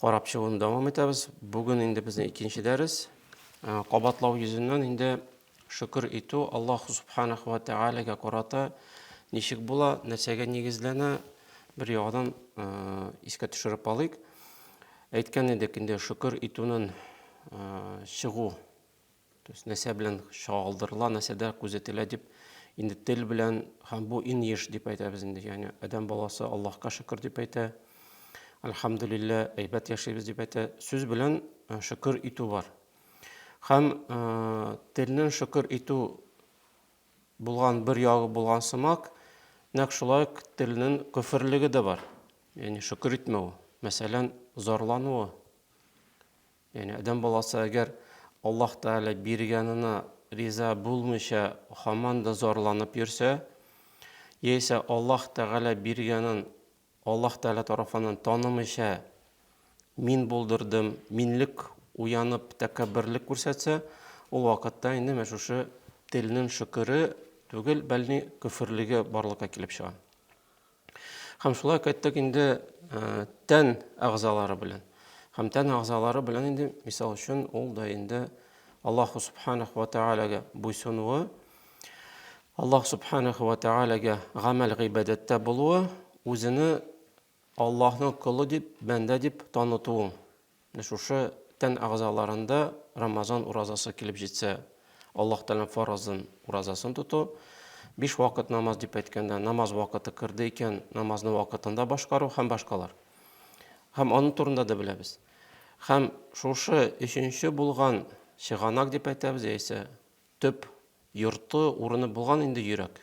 Карап чыгуны дәвам итәбез. Бүген инде безнең икенче дәрес. Э, кабатлау йөзеннән инде шөкер итү Аллаһ субханаху ва тәгаләгә карата ничек була, нәрсәгә нигезләнә, бер яңадан э, искә төшереп алыйк. Әйткән идек инде шөкер итүнең э, чыгу То есть нәрсә белән чагылдырыла, нәрсәдә күзәтелә дип инде тел белән һәм бу иң еш дип әйтәбез инде. Ягъни адәм баласы Аллаһка шөкер дип әйтә. Альхамдулилла, әйбәт яшибез дип әйтә. Сүз белән э, шөкер итү бар. Һәм э, телнең шөкер итү булган бер ягы булган сымак, нәкъ шулай телнең көферлеге дә бар. Ягъни шөкер итмәү, мәсәлән, зарлануы, Ягъни адәм баласы әгәр Аллаһ Тәгалә биргәненә риза булмыйча һаман да зарланып йөрсә, яисә Аллаһ Тәгалә биргәнен Аллаһ Тәгалә тарафыннан танымыйча мин булдырдым, минлек уянып тәкәбберлек күрсәтсә, ул вакытта инде менә шушы телнең шөкере түгел, бәлни көферлеге барлыкка килеп чыга. Һәм шулай кайттык инде э, тән әгъзалары белән. Һәм тән әгъзалары белән инде, мисал өчен, ул да инде Аллаһу субханах ва таалагә буйсынуы, Аллаһ субханах ва таалагә гамәл гыйбадәттә булуы, үзене Аллаһның колы дип, бәндә дип танытуы. Менә шушы тән әгъзаларында Рамазан уразасы килеп җитсә, Аллаһ Тәгаләнең фаразын, уразасын тоту, биш вакыт намаз дип әйткәндә, намаз вакыты керде икән, намазны вакытында башкару һәм башкалар. Һәм аның турында да беләбез. Һәм шушы өченче булган чыганак дип әйтәбез, яисә төп йорты, урыны булган инде йөрәк.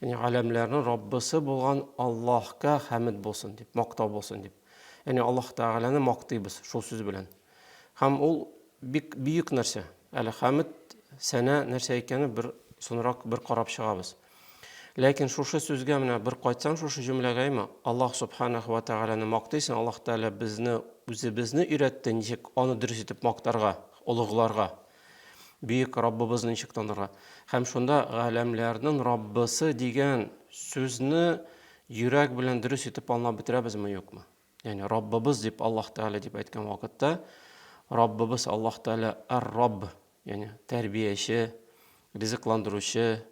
Яни галәмләрнең Раббысы булган Аллаһка хәмид булсын дип, мактау булсын дип. Яни Аллаһ Тәгаләне мактыйбыз шул сүз белән. Һәм ул бик бөек нәрсә. Әле хәмид сәнә нәрсә икәне бер соңрак бер карап чыгабыз. Ләкин шушы сүзгә менә бер кайтсаң шушы җөмләгә имә Аллаһ Субханаһу ва Тәгаләне мактыйсың, Аллаһ Тәгалә безне үзебезне өйрәтте, ничек аны дөрес итеп мактарга, олыгларга. Бөек Раббыбызны ничек танырга? Һәм шунда галәмләрнең Раббысы дигән сүзне йөрәк белән дөрес итеп аңлап бетерәбезме, юкмы? Ягъни Раббыбыз дип Аллаһ Тәгалә дип әйткән вакытта Раббыбыз Аллаһ Тәгалә ар-Рабб, ягъни тәрбияче, ризыкландыручы,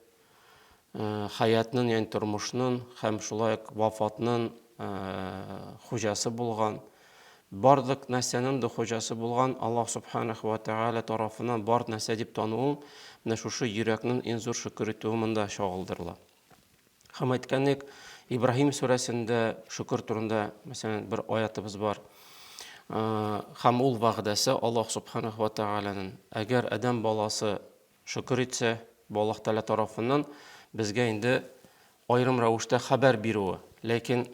хәятның, ягъни тормышның һәм шулай ук вафатның хуҗасы булган, барлык нәрсәнең дә хуҗасы булган Аллаһ Субханаху ва Тәгалә тарафыннан бар нәрсә дип тануым, менә шушы йөрәкнең иң зур шөкер итүе монда чагылдырыла. Һәм әйткәнлек, Ибраһим сүрәсендә шөкер турында, мәсәлән, бер аятыбыз бар. Һәм ул вәгъдәсе Аллаһ Субханаху ва Тәгаләнең, әгәр адәм баласы Шөкер итсә, бу Аллаһ Тәгалә тарафыннан безгә инде аерым рәвештә хәбәр бирүе. Ләкин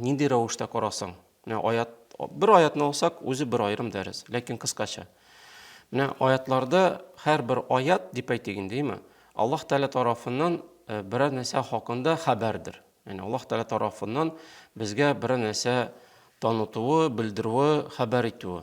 нинди рәвештә карасаң, менә аят, бер аятны алсак, үзе бер аерым дәрес, ләкин кыскача. Менә аятларда һәрбер аят дип әйтик инде, әйме? Аллаһ Тәгалә тарафыннан э, берәр нәрсә хакында хәбәрдер. Яни Аллаһ Тәгалә тарафыннан безгә берәр нәрсә танытуы, белдерүе, хәбәр итүе.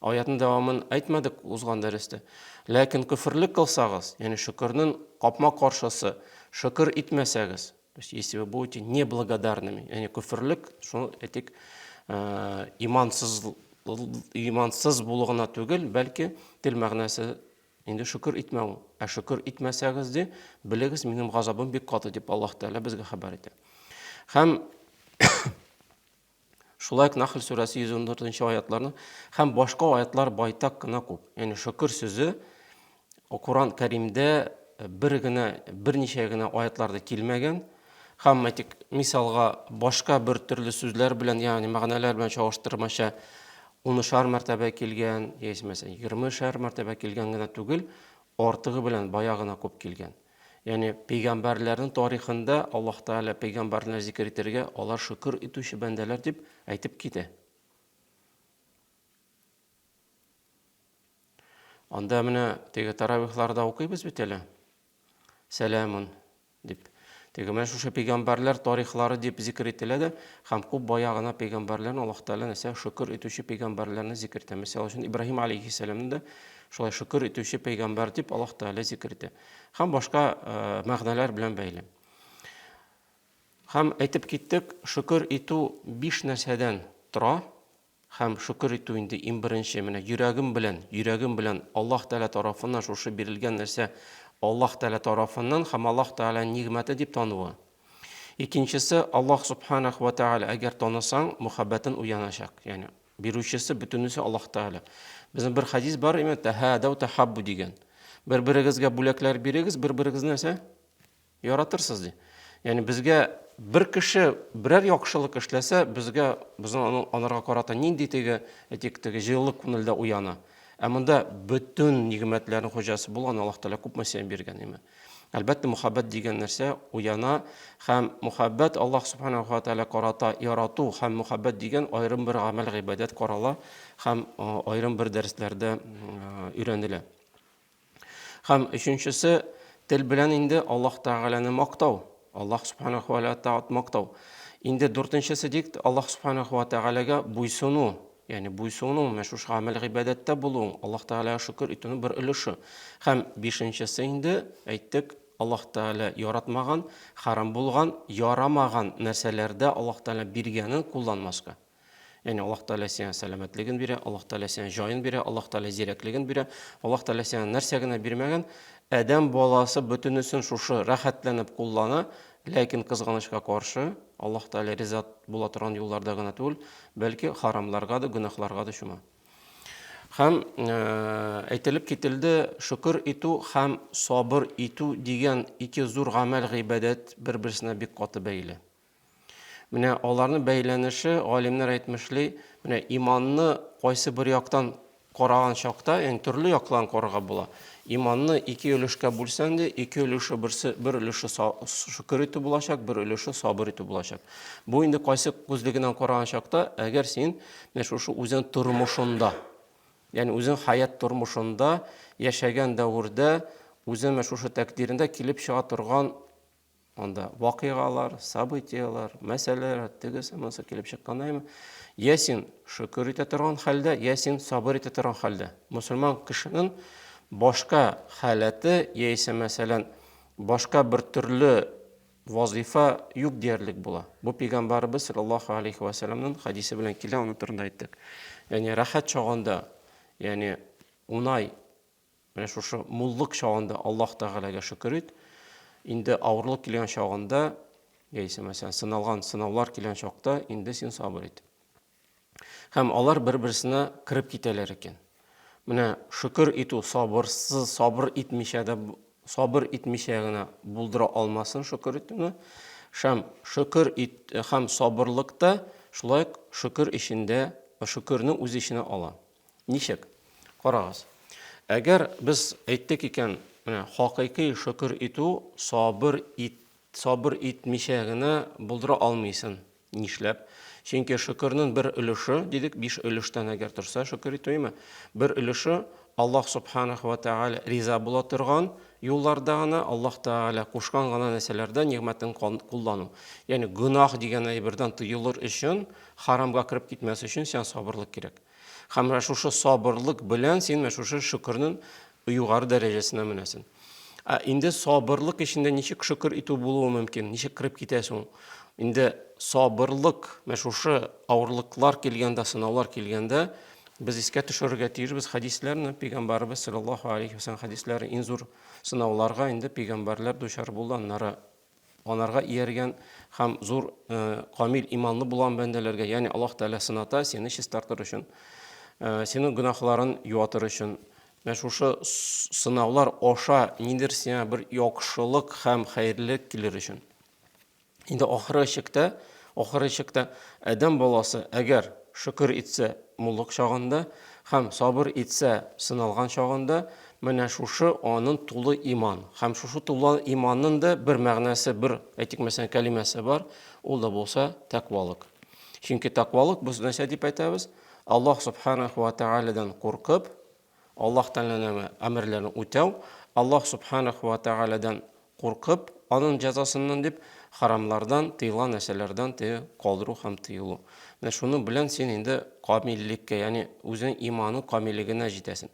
Аятнын дәвамын әйтмәдек узган дәрестә. Ләкин көферлек кылсагыз, ягъни шөкернен капма-каршысы, шөкер итмәсәгез, то есть если вы будете неблагодарными, ягъни көферлек, шуны әйтик, имансыз имансыз булу гына түгел, бәлки тел мәгънәсе инде шөкер итмәү. Ә шөкер итмәсәгез ди, белегез, минем газабым бик каты дип Аллаһ Тәгалә безгә хәбәр итә. Һәм Шулай ук Нахл сүрәсе 114 аятларны һәм башка аятлар байтак кына күп. Ягъни шөкер сүзе Коран Кәримдә э, бер генә берничә генә аятларда килмәгән. Һәм әйтик, мисалга башка бер төрле сүзләр белән, ягъни мәгънәләр белән чагыштырмача унышар мәртәбә килгән, яисә мәсәлән, егермешәр мәртәбә килгән генә түгел, артыгы белән бая гына күп килгән. Ягъни пәйгамбәрләрнең тарихында Аллаһ Тәгалә пәйгамбәрләрне зикер итәргә, алар шөкер итүче бәндәләр дип әйтеп китә. Анда менә теге таравихларда укыйбыз бит әле. Сәламун дип. Теге менә шушы пәйгамбәрләр тарихлары дип зикер ителә дә, һәм күп бая гына пәйгамбәрләрне Аллаһ Тәгалә нәрсә шөкер итүче пәйгамбәрләрне зикер итә. Мисал өчен Ибраһим алейхиссәламны да Шулай шөкер итүче пәйгамбәр дип Аллаһ Тәгалә зикер итә. Һәм башка мәгънәләр белән бәйле. Һәм әйтеп киттек, шөкер итү биш нәрсәдән тора. Һәм шөкер итү инде иң беренче менә йөрәгем белән, йөрәгем белән Аллаһ Тәгалә тарафыннан шушы бирелгән нәрсә Аллаһ Тәгалә тарафыннан һәм Аллаһ Тәгалә нигъмәте дип тануы. Икенчесе Аллаһ Субханах ва Тәгалә әгәр танысаң, мөхәббәтен уяначак. Ягъни Бирүчесе бөтенесе Аллаһ Тәгалә. Безнең бер хәдис бар, имән тәһәдәү тәхаббу дигән. Бер-берегезгә бүләкләр бирегез, бер-берегезне нәрсә? Яратырсыз ди. Ягъни безгә бер кеше берәр яхшылык эшләсә, безгә безнең анарга карата нинди теге, әйтик, теге җылылык күңелдә уяна. Ә монда бөтен нигъмәтләрнең хуҗасы булган Аллаһ Тәгалә күпме сәя биргән, имән. Әлбәттә, мөхәббәт дигән нәрсә уяна һәм мөхәббәт Аллаһ Субханаһу ва Тааля карата ярату һәм мөхәббәт дигән аерым бер гамәл гыйбадәт карала һәм аерым бер дәресләрдә өйрәнелә. Һәм өченчесе тел белән инде Аллаһ Тааляны мактау, Аллаһ Субханаһу ва Тааляны мактау. Инде дүртенчесе дик Аллаһ Субханаһу ва Тааляга буйсыну, Ягъни буйсынуың, менә шушы гамәл-гыйбадәттә булуың, Аллаһ Тәгаләгә шөкер итүнең бер өлеше. Һәм бишенчесе инде, әйттек, Аллаһ Тәгалә яратмаган, хәрам булган, ярамаган нәрсәләрдә Аллаһ Тәгалә биргәнен кулланмаска. Ягъни Аллаһ Тәгалә сиңа сәламәтлеген бирә, Аллаһ Тәгалә сиңа җаен бирә, Аллаһ Тәгалә зирәклеген бирә, Аллаһ Тәгалә сиңа нәрсә генә бирмәгән, адәм баласы бөтенесен шушы рәхәтләнеп куллана, ләкин кызганычка каршы, Аллаһ Тәгалә риза була торган юлларда гына түгел, бәлки харамларга да, гөнаһларга да чума. Һәм әйтелеп кителде, шөкер итү һәм сабыр итү дигән ике зур гамәл гыйбадәт бер-берсенә бик каты бәйле. Менә аларны бәйләнеше галимнәр әйтмешли, менә иманны кайсы бер яктан Караган чакта, янь төрле яклан карарга була. Иманны ике өлешкә бүлсәң дә, ике өлеше берсе, бер өлеше шөкер итү булачак, бер өлеше сабыр итү булачак. Бу инде кайсы күзлегеннән караган чакта, әгәр син менә шушы үзең тормышында, янь үзең хаят тормышында, яшәгән дәвердә, үзең менә шушы тәкъдирендә килеп чыга торган Анда вакыйгалар, событиялар, мәсьәләләр, тегесе, монысы килеп чыккандаймы? Я син шөкер итә торган хәлдә, я син сабыр итә торган хәлдә. Мусульман кешенең башка халәте, яисә мәсәлән, башка бер төрле вазифа юк диярлек була. Бу пәйгамбарыбыз саллаллаху алейхи ва салламның хадисе белән килә, аны турында әйттек. Ягъни рәхәт чагында, ягъни унай Менә шушы муллык чагында Аллаһ Тәгаләгә шөкер ит. Инде авырлык килгән чагында, яисә мәсәлән, сыналган сынаулар килгән чакта инде син сабыр ит. Һәм алар бер-берсенә кереп китәләр икән. Менә шөкер итү сабырсыз, сабыр итмичә дә сабыр итмичә генә булдыра алмасын шөкер итүне. Шәм шөкер ит һәм сабырлыкта шулай шөкер эчендә шөкерне үз эченә ала. Ничек? Карагыз. Әгәр без әйттек икән, менә хакыйкый шөкер итү сабыр ит, сабыр итмичә генә булдыра алмыйсын. Нишләп? Чөнки шөкернең бер өлеше, дидек, биш өлештән әгәр торса шөкер итү име? Бер өлеше Аллаһ субханах ва тааля риза була торган юлларда гына, Аллаһ тааля кушкан гына нәрсәләрдә нигъмәтен куллану. Ягъни гөнаһ дигән әйбердән тыелыр өчен, харамга кереп китмәс өчен сиңа сабырлык кирәк. Һәм менә шушы сабырлык белән син менә шушы шөкернең югары дәрәҗәсенә менәсен. Ә инде сабырлык эчендә ничек шөкер итү булуы мөмкин? Ничек кирип китә соң? Инде сабырлык, менә шушы авырлыклар килгәндә, сынаулар килгәндә, без искә төшерергә тиешбез хәдисләрне, пәйгамбәрбез саллаллаһу алейхи ва саллям хәдисләре иң зур сынауларга инде пәйгамбәрләр дучар булганнары. Анарга ияргән һәм зур камил иманлы булган бәндәләргә, ягъни Аллаһ Тәгалә сыната, сине чистартыр өчен, синең гөнаһларын юатыр өчен. Менә шушы сынаулар аша нидер сиңа бер яхшылык һәм хәерлелек килер өчен. Инде ахыры чиктә, ахыры чиктә Адәм баласы әгәр шөкер итсә, муллык чагында һәм сабыр итсә, сыналган чагында, Менә шушы анын тулы иман. Хәм шушы тулы иманнын да бер мәгънәсе, бер, әйтик мәсәлән, кәлимәсе бар, ул да булса тәкъвалык. Чөнки тәкъвалык без нәрсә дип әйтәбез? Аллаһ Субханаху ва Тәгаләдән куркып, Аллаһ Тәгаләнең әмерләрен үтәү, Аллаһ Субханаху ва Тәгаләдән Куркып, аның җәзасыннан дип, хәрамлардан, тыелган нәрсәләрдән теге калдыру һәм тыелу. Менә шуның белән син инде камиллеккә, ягъни үзенең иманы камиллегенә җитәсен.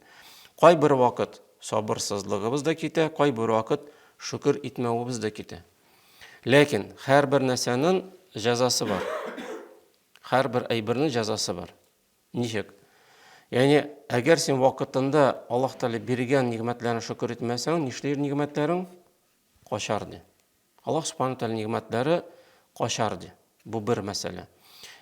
Кайбер вакыт сабырсызлыгыбыз да китә, кайбер вакыт шөкер итмәвебез дә китә. Ләкин һәрбер нәрсәнең җәзасы бар. Һәрбер әйбернең җәзасы бар. Ничек? Ягъни, әгәр син вакытында Аллаһ Тәгалә биргән нигъмәтләрен шөкер итмәсәң, нишләр нигъмәтләрең? Качар ди. Аллаһ Субхану Тәгалә нигъмәтләре качар ди. Бу бер мәсьәлә.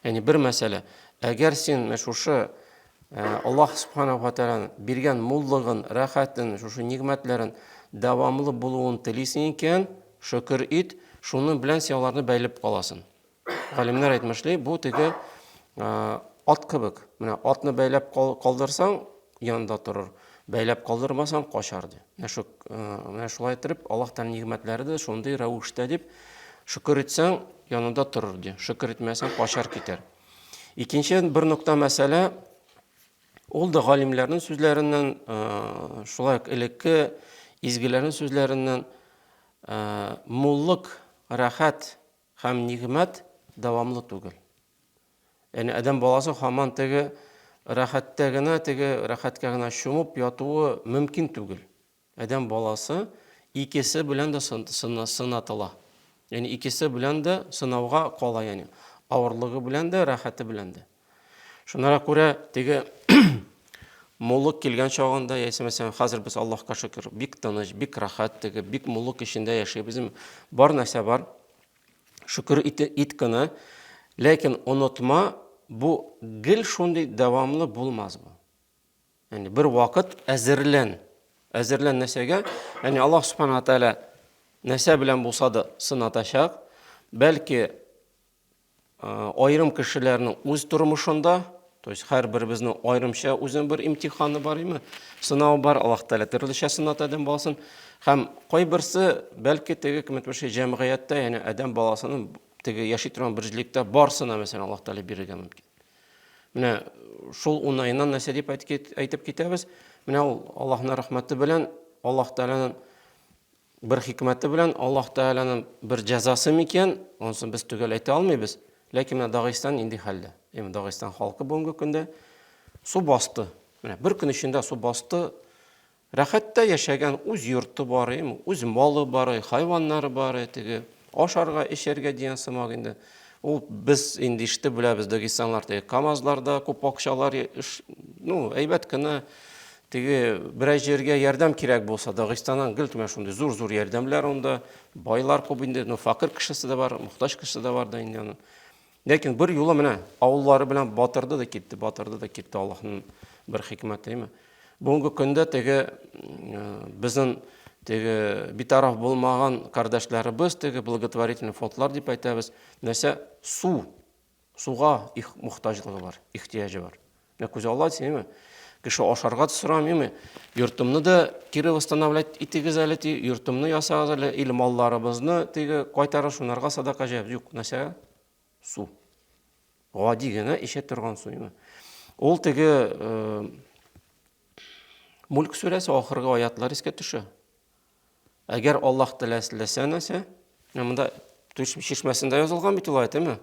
Ягъни бер мәсьәлә. Әгәр син шушы э, Аллаһ Субхану Тәгалә биргән муллыгын, рәхәтен, шушы нигъмәтләрен дәвамлы булуын телисең икән, шөкер ит, шуның белән син аларны бәйләп каласың. Галимнәр әйтмешли, бу теге ат кебек. Менә атны бәйләп калдырсаң, янында торыр. Бәйләп калдырмасаң, качар ди. Менә шу менә шулай итеп Аллаһ Тәгалә нигъмәтләре дә шундый рәвештә дип шөкер итсәң, янында торыр ди. Шөкер итмәсәң, качар китәр. Икенче бер нокта мәсьәлә ул да галимнәрнең сүзләреннән, шулай ук элекке изгеләрнең сүзләреннән муллык, рәхәт Һәм нигъмәт дәвамлы түгел. Яни адәм баласы һаман теге рәхәттә генә, теге рәхәткә генә чумып ятуы мөмкин түгел. Адәм баласы икесе белән дә сынатыла. Яни икесе белән дә сынауга кала, яни авырлыгы белән дә, рәхәте белән дә. Шунара күрә теге муллык килгән чагында, яисә мәсәлән, хәзер без Аллаһка шөкер, бик тыныч, бик рахат теге, бик муллык эчендә яшибез. Бар нәрсә бар. Шөкер ит, ит кына. Ләкин онытма, бу гел шундый дәвамлы булмас бу. Яни бер вакыт әзерлән. Әзерлән нәрсәгә? Яни Аллаһ субхана тәгалә нәрсә белән булса да сынатачак. Бәлки Аерым кешеләрнең үз тормышында, то есть һәрберебезнең аерымча үзенең бер имтиханы бар име, сынавы бар, Аллаһ Тәгалә төрлечә сынат адәм баласын. Һәм кайберсе, бәлки теге кем әйтмешли, җәмгыятьтә, ягъни адәм баласының теге яши торган бер җилектә барсына, мәсәлән, Аллаһ Тәгалә бирергә мөмкин. Менә шул уңаеннан нәрсә дип әйтеп китәбез? Менә ул Аллаһның рәхмәте белән Аллаһ Тәгаләнең Бер хикмәте белән Аллаһ Тәгаләнең бер җәзасы микән, онсын без төгәл әйтә алмыйбыз. Ләкин менә Дагыстан инде хәлдә. Именно Дагыстан халкы бүгенге көндә су басты. Менә бер көн эчендә су басты. Рәхәттә яшәгән үз йорты бар, үз малы бар, хайваннары бар, теге Ашарга, эчәргә дигән сымак инде. Ул без инде ишетеп беләбез, дагестанлар теге КАМАЗларда күп акчалар, ну, әйбәт кенә теге берәр җиргә ярдәм кирәк булса, Дагыстаннан гел кенә шундый зур-зур ярдәмләр анда, байлар күп инде, ну, факир кешесе дә бар, мохтаҗ кешесе дә бар да инде аның. Ләкин бер юлы менә авыллары белән батырды да китте, батырды да китте Аллаһның бер хикмәтеме. Бүгенге көндә теге безнең теге битараф булмаган кардәшләребез теге благотворительный фондлар дип әйтәбез, нәрсә су, суга их мохтаҗлыгы бар, ихтияҗы бар. Ә күз алла дисеңме? Кеше ашарга да сорамыймы? Йортымны да кире восстановлять итегез әле ти, йортымны ясагыз әле, или малларыбызны теге кайтарып шунарга садака җәйбез. Юк, нәрсәгә? Су. Гади генә эчә торган су. Ул теге э, Мүлк сүрәсе ахыргы аятлар искә төшә. Әгәр Аллаһ теләсә нәрсә, менә монда түш чишмәсендә язылган бит ул әйтеме?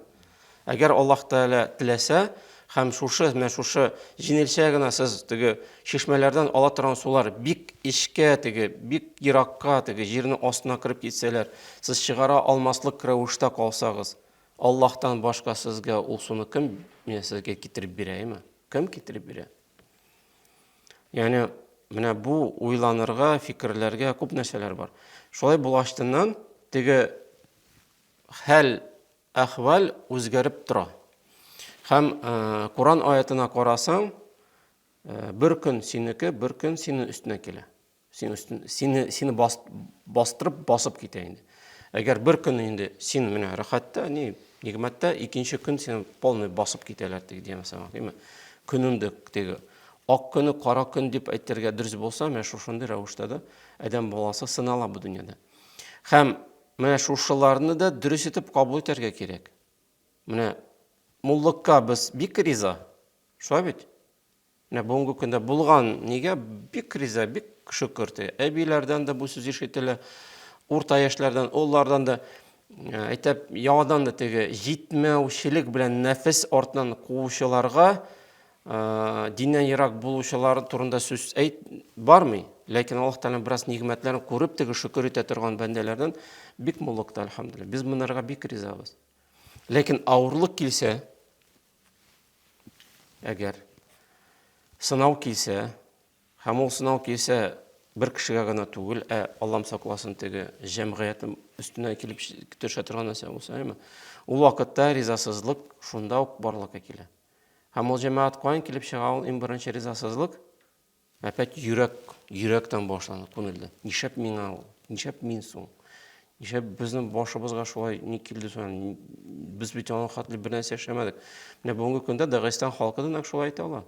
Әгәр Аллаһ Тәгалә теләсә, һәм шушы менә шушы җинелчә генә сез теге чишмәләрдән ала торган сулар бик эчкә теге бик еракка теге җирне астына кереп китсәләр сез чыгара алмаслык рәвештә калсагыз аллаһтан башка сезгә ул суны кем менә сезгә китереп бирә әйме кем китереп бирә Яни менә бу уйланырга, фикерләргә күп нәрсәләр бар. Шулай булаштыннан теге хәл, әхвәл үзгәреп тора. Һәм э, Коран аятына карасаң, э, бер көн синеке, бер көн синең өстенә килә. Син өстен сине сине бас, бастырып басып китә инде. Әгәр бер көн инде син менә рәхәттә, ни нигмәттә, икенче көн сине полный басып китәләр теге дигән сама, димме? Көнеңдә теге ак көне кара көн дип әйтергә дөрес булса, менә шушындый рәвештә дә адәм баласы сынала бу дөньяда. Һәм менә шушыларны да дөрес итеп кабул итәргә кирәк. Менә муллыкка без бик риза. Шулай бит? Менә бүгенге көндә булган нигә бик риза, бик шөкер ди. Әбиләрдән дә бу сүз ишетелә, урта яшьләрдән, олылардан да э, әйтәп яңадан да теге җитмәүчелек белән нәфес артыннан куучыларга э, диннән ерак булучылар турында сүз әйт бармый. Ләкин Аллаһ Тәгалә бераз нигъмәтләрен күреп теге шөкер итә торган бәндәләрдән бик муллыкта, альхамдулилла. Без монарга бик ризабыз. Ләкин авырлык килсә, Әгәр сынау килсә, һәм ул сынау килсә бер кешегә генә түгел, ә Аллам сакласын теге җәмгыятем өстенә килеп төшә торган нәрсә булса, әйме? Ул вакытта ризасызлык шунда ук барлыкка килә. Һәм ул җәмәгать каян килеп чыга ул иң беренче ризасызлык? Опять йөрәк, йөрәктән башланды, күнелде. Нишләп миңа ул? Нишләп мин соң? Нишләп безнең башыбызга шулай ни килде соң? Без бит аның хәтле бер нәрсә эшләмәдек. Менә бүгенге көндә Дагестан халкы да нәкъ шулай әйтә ала.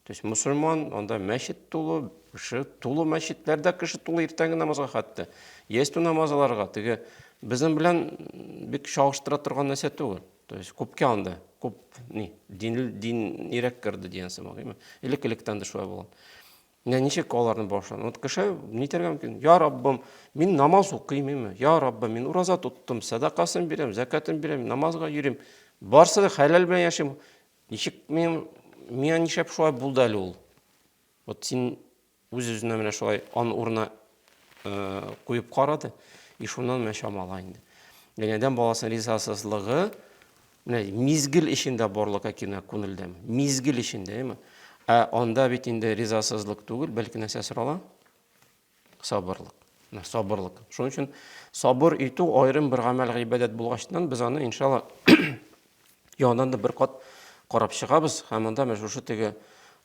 То есть мусульман, анда мәчет тулы, кеше тулы мәчетләрдә кеше тулы иртәнге намазга хәтта. Ястү намазларга теге безнең белән бик чагыштыра торган нәрсә түгел. То есть күпкә анда, күп ни, дин, дин ирек керде дигән сымак, именно. Элек электән дә шулай булган. Менә ничек аларны башлады. Вот кеше нитәргә мөмкин. Я Раббым, мин намаз укыйм, именно. Я Раббым, мин ураза тоттым, садакасын бирәм, закатын бирәм, намазга йөрим. Барсы да хәләл белән яшим. Ничек мин миңа нишләп шулай булды әле ул? Вот син Үз-үзенә менә шулай ан урына куеп карады. И шуннан менә чамала инде. Яни адәм баласының ризасызлыгы менә мизгел эчендә барлыкка килә күңелдәме? Мизгел эчендә, әйме? Ә анда бит инде ризасызлык түгел, бәлки нәрсә сорала? Сабырлык. Менә сабырлык. Шуның өчен сабыр итү аерым бер гамәл гыйбадәт булгачтан без аны иншалла Яңадан да бер кат карап чыгабыз һәм анда менә шушы теге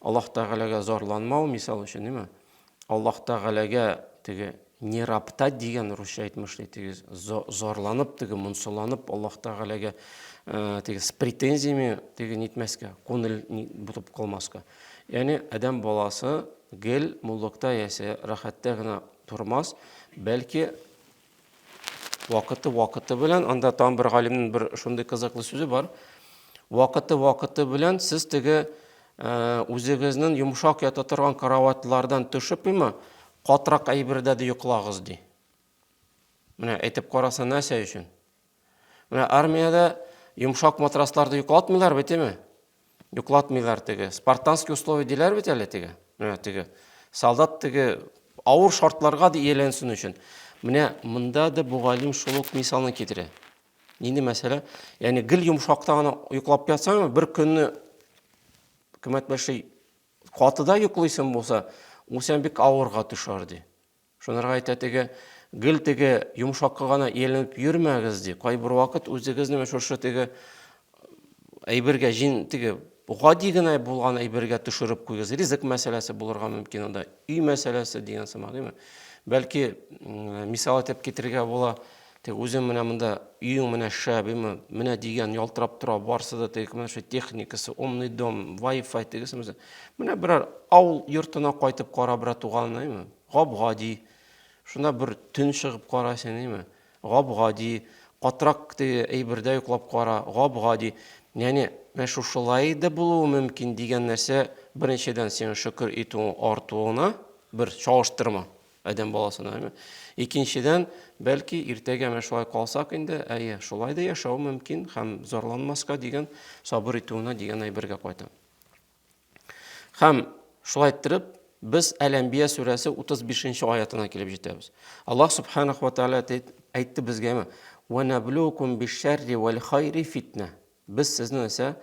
Аллаһ Тәгаләгә зарланмау мисал өчен, димме? Аллаһ Тәгаләгә теге не раптать дигән русча әйтмеш ди, теге зарланып, теге монсаланып Аллаһ Тәгаләгә э, теге с претензиями теге нитмәскә, күңел бутып калмаска. Ягъни адәм баласы гел муллыкта ясә, рәхәттә генә тормас, бәлки Вакыты вакыты белән, анда тагын бер галимнең бер шундый кызыклы сүзе бар. Вакыты вакыты белән сез теге э, үзегезнең йомшак ята торган караватлардан төшеп има, катрак әйбердә дә йоклагыз ди. Менә әйтеп караса нәрсә өчен? Менә армиядә йомшак матрасларда йоклатмыйлар бит, әйме? Йоклатмыйлар теге. Спартанский условия диләр бит әле теге. Менә теге. Солдат теге авыр шартларга да ияләнсен өчен. Менә монда да бу галим шул ук мисалны китерә. Нинди мәсьәлә? Ягъни гел йомшакта гына йоклап ятсаң, бер көнне кыйммәт бәшли катыда йоклыйсың булса, ул сән бик авырга төшәр ди. Шунырга әйтә теге, гел теге йомшакка гына ияләнеп йөрмәгез ди. Кайбер вакыт үзегезне менә шушы теге әйбергә җин теге гади генә булган әйбергә төшереп куйгыз. Ризык мәсьәләсе булырга мөмкин анда, өй мәсьәләсе дигән сымак, димме? Бәлки мисал итеп китерергә була, Теге үзең менә монда, өең менә шәбиме, менә дигән ялтырап тора, барсы да теге менә шул техникасы, умный дом, вай-фай тегесе менә. Менә берәр авыл йортына кайтып кара, братуган, әйме? Гап-гади. Шунда бер төн чыгып кара син, әйме? Гап-гади. Катрак теге әйбердә йоклап кара, гап-гади. Яни, менә шушылай да булуы мөмкин дигән нәрсә, беренчедән сиңа шөкер итүең артуына бер чагыштырма. Адәм баласына, әйме? Икенчедән, бәлки, иртәгә менә шулай калсак инде, әйе, шулай да яшәү мөмкин һәм зарланмаска дигән сабыр итүенә дигән әйбергә кайта. Һәм шулай иттереп, без Әл-Әнбия сүрәсе 35 аятына килеп җитәбез. Аллаһ субханаху ва тааля әйтте безгәме? Ва наблукум бишшарри вал хайри фитна. Без сезне исә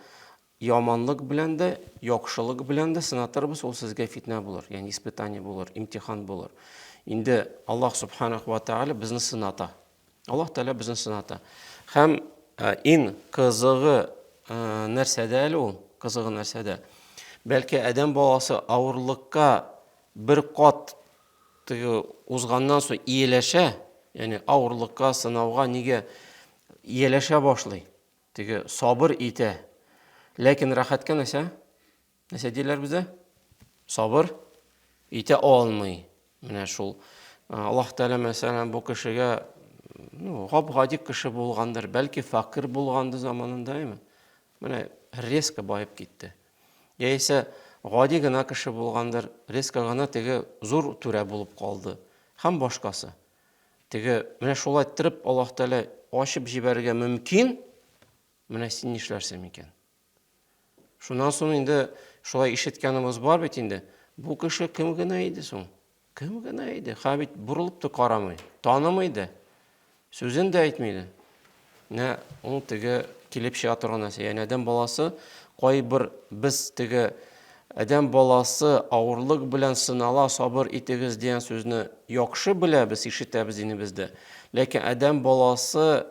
Яманлык белән дә, яхшылык белән дә сынатырбыз, ул сезгә фитнә булыр, ягъни испытание булыр, имтихан булыр. Инде Аллаһ Субханаху ва Тааля безне сыната. Аллаһ Тааля безне сыната. Һәм э, иң кызыгы э, нәрсәдә әле ул? Кызыгы нәрсәдә? Бәлки адәм баласы авырлыкка бер кат теге узганнан соң ияләшә, ягъни авырлыкка, сынауга нигә ияләшә башлый? Теге сабыр итә. Ләкин рәхәткә нәрсә? Нәрсә диләр бездә? Сабыр итә алмый. Менә шул. Аллаһ Тәгалә мәсәлән бу кешегә ну, гап-гади кеше булгандыр, бәлки факир булганды заманында, әйме? Менә резко байып китте. Яисә гади гына кеше булгандыр, резко гына теге зур түрә булып калды. Һәм башкасы. Теге, менә шулай тырып Аллаһ Тәгалә ачып җибәрергә мөмкин. Менә син нишләрсең микән? Шуннан соң инде шулай ишеткәнебез бар бит инде. Бу кеше кем генә иде соң? Кем генә иде? Хәбит бурылып та карамый, танымый да. Сүзен дә әйтми иде. Менә ул теге килеп чыга торган нәрсә. Яни адәм баласы кайбер без теге адәм баласы авырлык белән сынала, сабыр итегез дигән сүзне яхшы беләбез, ишетәбез инебездә. Ләкин адәм баласы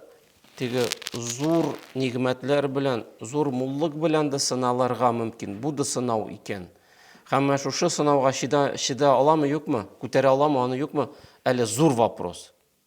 теге зур нигъмәтләр белән, зур муллык белән дә сыналырга мөмкин. Бу да сынау икән. Һәм менә шушы сынауга чида, чида аламы, юкмы? Күтәрә аламы, аны юкмы? Әле зур вопрос.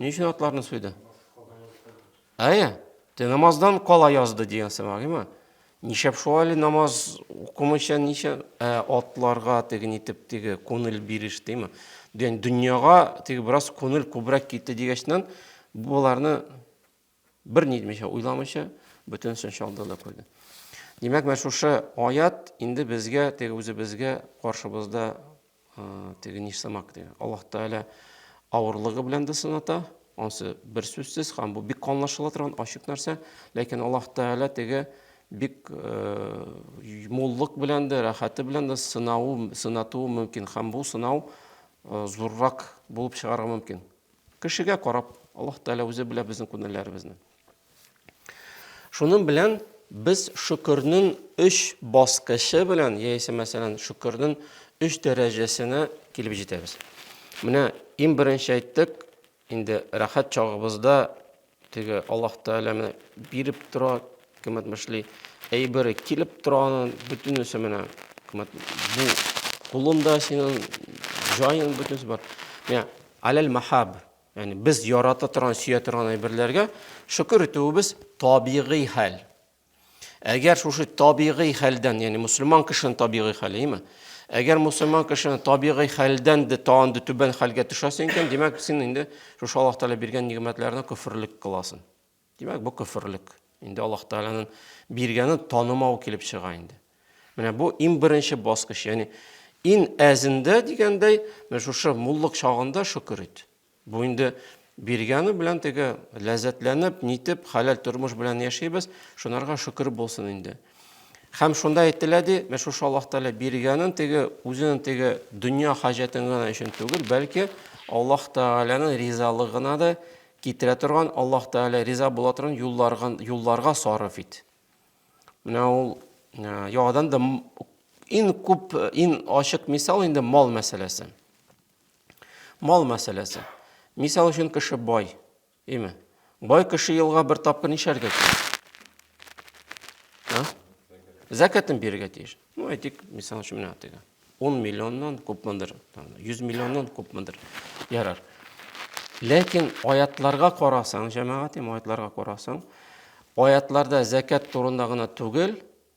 Ни өчен атларны суйды? Әйе, те намаздан кала язды дигән сымагыймы? Нишәп шулай намаз укымыйча ничә ә, атларга теген итеп теге күңел биреш димме? Дөньяга теге бераз күңел күбрәк китте дигәчнән, буларны Бер ни итмичә, уйламыйча, бөтенесен чалды да куйды. Димәк, менә шушы аят инде безгә, теге үзебезгә каршыбызда теге нишсымак диге. Аллаһ Тәгалә авырлыгы белән дә сыната, ансы бер сүзсез һәм бу бик аңлашыла торган ачык нәрсә, ләкин Аллаһ Тәгалә теге бик муллык белән дә, рәхәте белән дә сынау, сынатуы мөмкин һәм бу сынау зуррак булып чыгарга мөмкин. Кешегә карап, Аллаһ Тәгалә үзе белә безнең күнелләребезне. Шуның белән без шөкернен өч баскычы белән, яисә мәсәлән, шөкернен өч дәрәҗәсенә килеп җитәбез. Менә иң беренче әйттек, инде рәхәт чагыбызда Теге Аллаһ Тәгалә менә биреп тора, кем әйтмешли, әйбере килеп тора аның бөтенесе менә. Бу кулында синең җаен бөтенесе бар. Менә аләл махаб, ягъни без ярата торган, сөя торган әйберләргә шөкер итүебез табигый хәл. Әгәр шушы табигый хәлдән, ягъни мусульман кешенең табигый хәле, әйме? Әгәр мусульман кешенең табигый хәлдән дә тагын да түбән хәлгә төшәсең икән, димәк, син инде шушы Аллаһ Тәгалә биргән нигъмәтләрне күферлек кыласың. Димәк, бу күферлек. Инде Аллаһ Тәгаләнең биргәнен танымау килеп чыга инде. Менә бу иң беренче баскыч, ягъни ин әзендә дигәндәй, менә шушы муллык чагында шөкер ит. Бу инде биргәне белән теге ләззәтләнеп, нитеп, хәләл тормыш белән яшибез, шунарга шөкер булсын инде. Хәм шунда әйтелә ди, менә шушы Аллаһ Тәгалә биргәнен теге үзенең теге дөнья хаҗәтен генә өчен түгел, бәлки Аллаһ Тәгаләнең ризалыгына да китерә торган, Аллаһ Тәгалә риза була торган юлларга, юлларга сарыф ит. Менә ул яңадан да ин күп, ин ачык мисал инде мал мәсьәләсе. Мал мәсьәләсе. Мисал өчен кеше бай, име? Бай кеше елга бер тапкыр нишәргә тиеш? Зәкәтен бирергә тиеш. Ну, әйтик, мисал өчен менә теге 10 миллионнан күпмендер, 100 миллионнан күпмендер. Ярар. Ләкин аятларга карасаң, җәмәгатем аятларга карасаң, аятларда зәкәт турында гына түгел,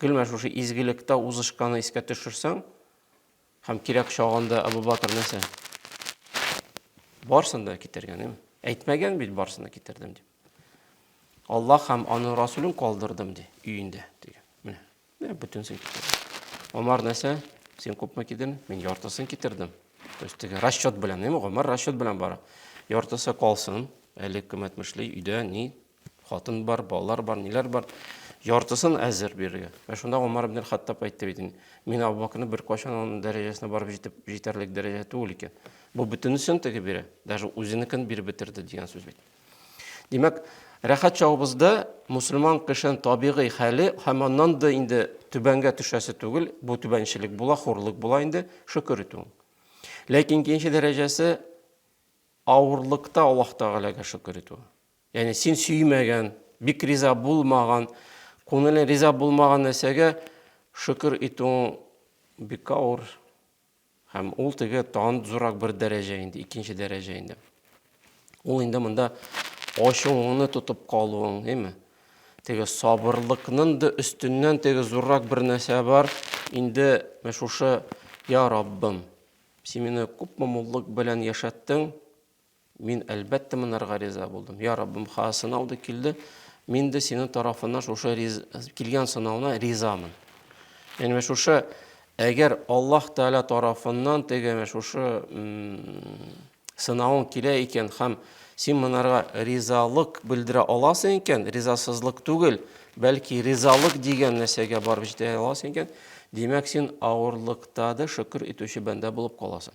Гел менә шушы изгелектә узышканы искә төшерсәң, һәм кирәк чагында Абу Батыр нәрсә? Барсын да китергән, әйме? Әйтмәгән бит барсын да китердем дип. Аллаһ һәм аның Расулын калдырдым ди, өендә дигән. Менә, менә бөтенсен китердем. Омар нәрсә? Син күпме китердең? Мин яртысын китердем. То есть теге расчет белән, әйме? Омар расчет белән бара. Яртысы калсын, әле кем әйтмешли, өйдә ни Хатын бар, балалар бар, ниләр бар. Яртысын әзер бирергә. Ә шунда Умар ибн Хаттаб әйтте бит инде. Мин Абу Бакрны беркайчан аның дәрәҗәсенә барып җитеп җитәрлек дәрәҗә түгел икән. Бу бөтенесен теге бирә. Даже үзенекен биреп бетерде дигән сүз бит. Димәк, рәхәт чагыбызда мусульман кешенең табигый хәле һәм аннан да инде түбәнгә төшәсе түгел, бу түбәнчелек була, хурлык була инде, шөкер итү. Ләкин икенче дәрәҗәсе авырлыкта Аллаһ Тәгаләгә шөкер итү. Ягъни син сөймәгән, бик риза булмаган, күңелең риза булмаган нәрсәгә шөкер итүең бик авыр. Һәм ул теге тагын зуррак бер дәрәҗә инде, икенче дәрәҗә инде. Ул инде монда ачуыңны тотып калуың, әйме? Теге сабырлыкның да өстеннән теге зуррак бер нәрсә бар. Инде менә шушы, я Раббым, син мине күпме муллык белән яшәттең, Мин, әлбәттә, монарга риза булдым. Я Раббым, ха, сынау да килде. Мин дә синең тарафыннан шушы риз... килгән сынауына ризамын. Яни менә шушы әгәр Аллаһ Тәгалә тарафыннан теге менә шушы сынавың килә икән һәм син монарга ризалык белдерә аласың икән, ризасызлык түгел, бәлки ризалык дигән нәрсәгә барып җитә аласың икән, димәк, син авырлыкта да шөкер итүче бәндә булып каласың.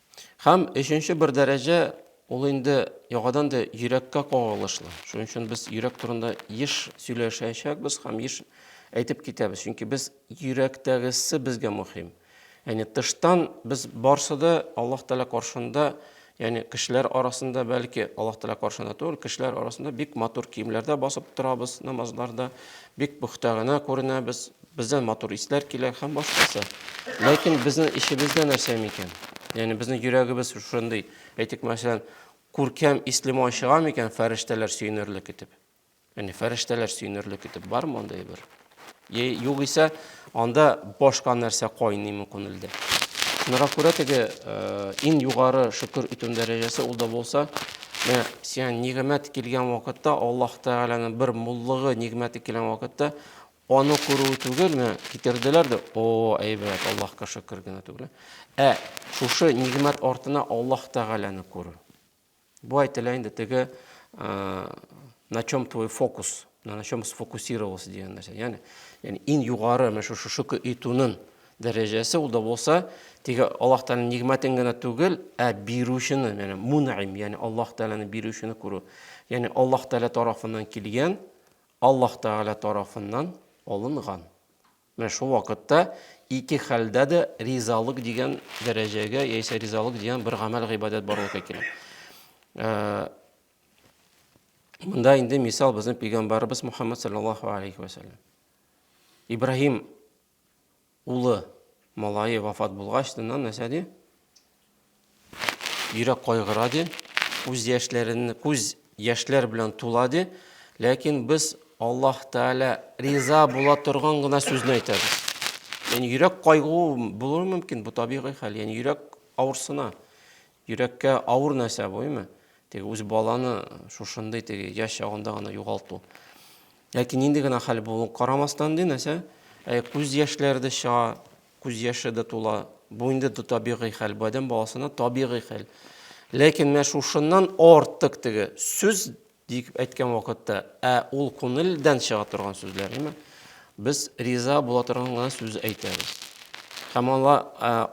Һәм өченче бер дәрәҗә ул инде яңадан да йөрәккә кагылышлы. Шуның өчен без йөрәк турында еш сөйләшәчәкбез һәм еш әйтеп китәбез. Чөнки без йөрәктәгесе безгә мөһим. Яни тыштан без барсы да Аллаһ Тәгалә каршында, яни кешеләр арасында бәлки Аллаһ Тәгалә каршында түгел, кешеләр арасында бик матур киемләрдә басып торабыз намазларда, бик пөхтә генә күренәбез, Бездән матур исләр килә һәм башкасы. Ләкин безнең эчебездә нәрсә микән? Ягъни безнең йөрәгебез шундый, әйтик, мәсәлән, күркәм исле май чыга микән фәрештәләр сөенерлек итеп? Ягъни фәрештәләр сөенерлек итеп бар мондый бер? Е, югыйсә, анда башка нәрсә кайныймы күңелдә? Шунара күрә теге э, иң югары шөкер итү дәрәҗәсе ул да булса, менә сиңа нигъмәт килгән вакытта, Аллаһ Тәгаләнең бер муллыгы, нигъмәте килгән вакытта, Аны күрүе түгел, менә китерделәр дә, о, әйбәт, Аллаһка шөкер генә түгел. Ә шушы нигъмәт артына Аллаһ Тәгаләне күрү. Бу әйтелә инде теге на чем твой фокус, на чем сфокусировался дигән нәрсә. Ягъни, ягъни иң югары менә шушы шөкер итүнең дәрәҗәсе ул да булса, теге Аллаһ Тәгалә нигъмәтен генә түгел, ә бирүчене, ягъни мунайм, ягъни Аллаһ Тәгаләне бирүчене күрү. Ягъни Аллаһ Тәгалә тарафыннан килгән Аллаһ Тәгалә тарафыннан алынган. Менә шул вакытта ике хәлдә дә ризалык дигән дәрәҗәгә яисә ризалык дигән бер гамәл гыйбадәт барлыкка килә. Э, Мында инде мисал безнең пәйгамбарыбыз Мухаммад саллаллаһу алейхи ва саллям. Ибраһим Улы, малае вафат булгач, шуннан нәрсә ди? Йөрәк кайгыра ди, күз яшьләрен, күз яшьләр белән тула ди. Ләкин без Аллаһ Тәгалә риза була торган гына сүзне әйтәбез. Яни йөрәк кайгу булыр мөмкин, бу табигый хәл. Яни йөрәк авырсына. Йөрәккә авыр нәрсә бу, әйме? Теге үз баланы шушындый теге яшь чагында гына югалту. Ләкин нинди генә хәл булуын карамастан, ди нәрсә, ә күз яшьләре дә чыга, күз яше дә тула. Бу инде табигый хәл, бу адәм баласына табигый хәл. Ләкин менә шушыннан артык теге сүз дип әйткән вакытта, ә ул күңелдән чыга торган сүзләр, әйме? Без риза була торган гына сүз әйтәбез. Һәм аңа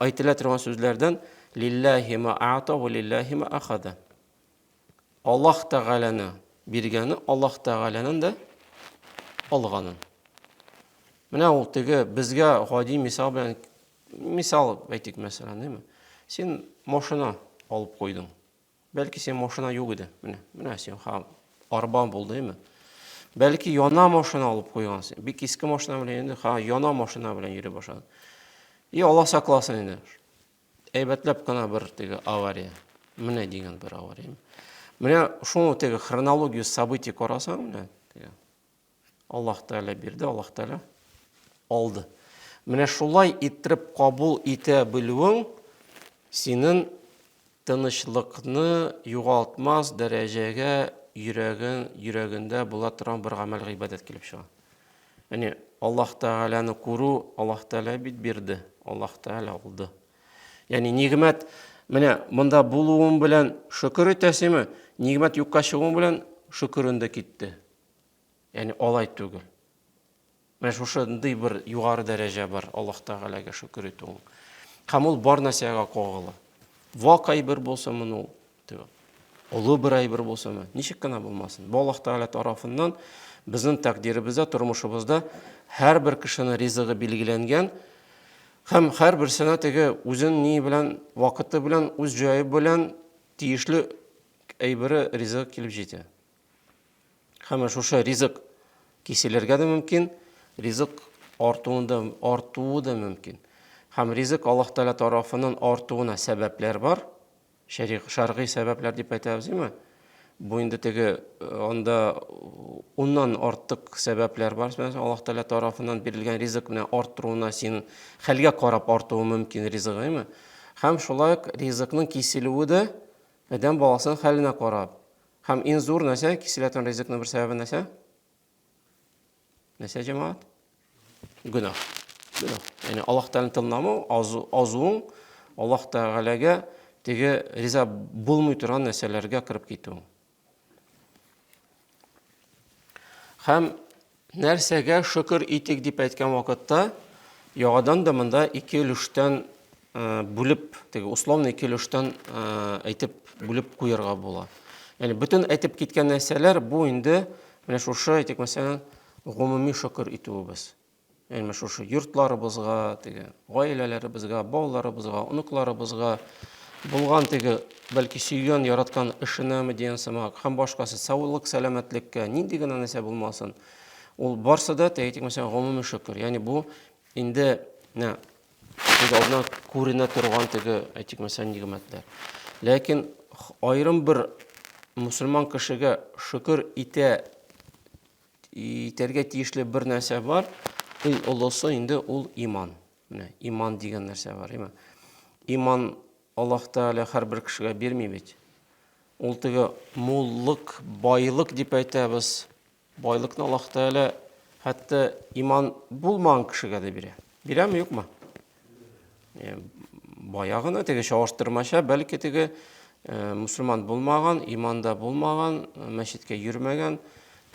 әйтелә торган сүзләрдән лиллаһи ма аата ва лиллаһи ма ахада. Аллаһ Тәгаләне биргәне, Аллаһ Тәгаләнен дә алганы. Менә ул теге безгә гади мисал белән мисал әйтик мәсәлән, димме? Син машина алып куйдың. Бәлки син машина юк иде. Менә, менә син ха арба булды, димме? Бәлки яна машина алып куйгансың. Бик иске машина белән инде, ха яна машина белән йөри башладың. И Аллаһ сакласын инде. Әйбәтләп кына бер теге авария. Менә дигән бер авария. Менә шуның теге хронологию событий карасаң, менә теге Аллаһ Тәгалә бирде, Аллаһ Тәгалә алды. Менә шулай иттереп кабул итә белүең синең тынычлыкны югалтмас дәрәҗәгә йөрәген йөрәгендә була торган бер гамәл гыйбадәт килеп чыга. Әне, Аллаһ Тәгаләне күрү, Аллаһ Тәгалә бит бирде, Аллаһ Тәгалә алды. Ягъни нигъмәт менә монда булуым белән шөкер итәсеме? Нигъмәт юкка чыгуым белән шөкерен дә китте. Ягъни алай түгел. Менә шушындый бер югары дәрәҗә бар Аллаһ Тәгаләгә шөкер итү. Һәм ул бар нәрсәгә кагыла. Вакай бер булса моны Олы бер әйбер булса мә, ничек кенә булмасын. Бу Аллаһ Тәгалә тарафыннан безнең тәкъдиребездә, тормышыбызда һәрбер кешенең ризыгы билгеләнгән һәм һәрберсенә теге үзен ни белән, вакыты белән, үз җае белән тиешле әйбере ризык килеп җитә. Һәм шушы ризык киселергә дә мөмкин, ризык артуы да, артуы да мөмкин. Һәм ризык Аллаһ Тәгалә тарафыннан артуына сәбәпләр бар. Шәригъ, шәргый сәбәпләр дип әйтәбез, име? Бу инде теге анда уннан артык сәбәпләр бар. Мәсәлән, Аллаһ Тәгалә тарафыннан бирелгән ризык менә артыруына син хәлгә карап артуы мөмкин ризыгы, име? Һәм шулай ук ризыкның киселүе дә адәм баласының хәленә карап. Һәм иң зур нәрсә киселә торган ризыкның бер сәбәбе нәрсә? Нәрсә җәмәгать? Гүнә. Гүнә. Яни Аллаһ Тәгаләне тыңламау, азуың Аллаһ Тәгаләгә теге риза булмый торган нәрсәләргә кереп китү. Һәм нәрсәгә шөкер итик дип әйткән вакытта, яңадан да монда ике өлештән бүлеп, теге условный килештән әйтеп бүлеп куярга була. Яни бөтен әйтеп киткән нәрсәләр бу инде менә шушы әйтик мәсәлән гомуми шөкер итүебез. Яни менә шушы йортларыбызга, теге гаиләләребезгә, балаларыбызга, оныкларыбызга булган теге бәлки сөйгән, яраткан эшенәме дигән сымак һәм башкасы саулык, сәламәтлеккә нинди генә нәрсә булмасын. Ул барсы да әйтик мәсәлән гомуми шөкер. Яни бу инде Күз алдына күренә торган теге, әйтик, мәсәлән, нигъмәтләр. Ләкин аерым бер мусульман кешегә шөкер итә итәргә тиешле бер нәрсә бар. Иң олысы инде ул иман. Менә иман дигән нәрсә бар, иман. Иман Аллаһ Тәгалә һәрбер кешегә бирми бит. Ул теге муллык, байлык дип әйтәбез. Байлыкны Аллаһ Тәгалә хәтта иман булмаган кешегә дә бирә. Бирәме, юкмы? Э, бая гына теге чагыштырмача, бәлки теге э, мусульман булмаган, иманда булмаган, э, мәчеткә йөрмәгән,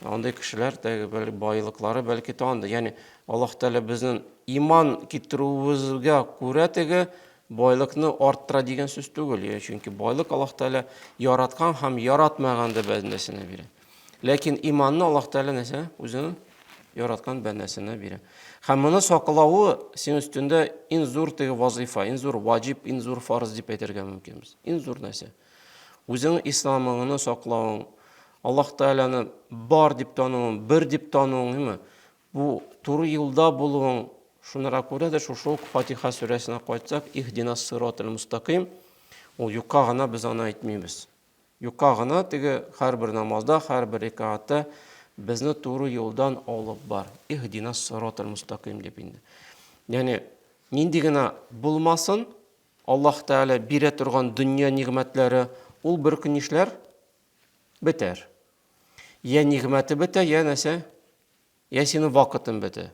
андый кешеләр теге байлыклары бәлки тагында. Ягъни Аллаһ Тәгалә безнең иман китерүебезгә күрә теге байлыкны арттыра дигән сүз түгел. Чөнки байлык Аллаһ Тәгалә яраткан һәм яратмаган да бәндәсенә бирә. Ләкин иманны Аллаһ Тәгалә нәрсә? Үзенең яраткан бәндәсенә бирә. Һәм моны саклавы син өстендә иң зур теге вазифа, иң зур ваҗиб, иң зур фарыз дип әйтергә мөмкин без. Иң зур нәрсә. Үзеңнең исламыңны саклавың, Аллаһ Тәгаләне бар дип тануың, бер дип тануың, әйме? Бу туры юлда булуың, шунара күрә дә шушы ук Фатиха сүрәсенә кайтсак, иһдинас сиротал мустаким, ул юкка гына без аны әйтмибез. Юкка гына теге һәрбер намазда, һәрбер рекаатта безне туры юлдан алып бар. Иһдина сиратал мустакыйм дип инде. Ягъни нинди генә булмасын, Аллаһ Тәгалә бирә торган дөнья нигъмәтләре, ул бер көн нишләр? Бетәр. Я нигъмәте бетә, я нәрсә? Я синең вакытың бетә.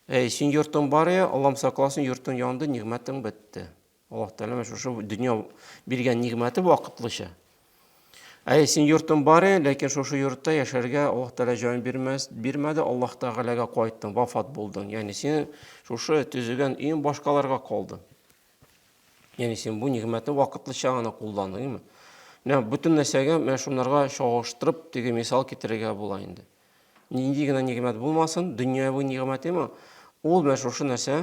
Әй, син йортың бар я, Аллам сакласын, йортың янды, нигъмәтең бетте. Аллаһ Тәгалә менә шушы дөнья биргән нигъмәте вакытлыча. Ә син йортың бар, ләкин шушы йортта яшәргә Аллаһ Тәгалә җан бирмәс, бирмәде, Аллаһ Тәгаләгә кайттың, вафат булдың. Ягъни син шушы төзегән өең башкаларга калды. Ягъни син бу нигъмәтне вакытлыча гына кулландың. Менә бөтен нәрсәгә менә шунларга чагыштырып теге мисал китерергә була инде. Нинди генә нигъмәт булмасын, дөньяви нигъмәтеме, ул менә шушы нәрсә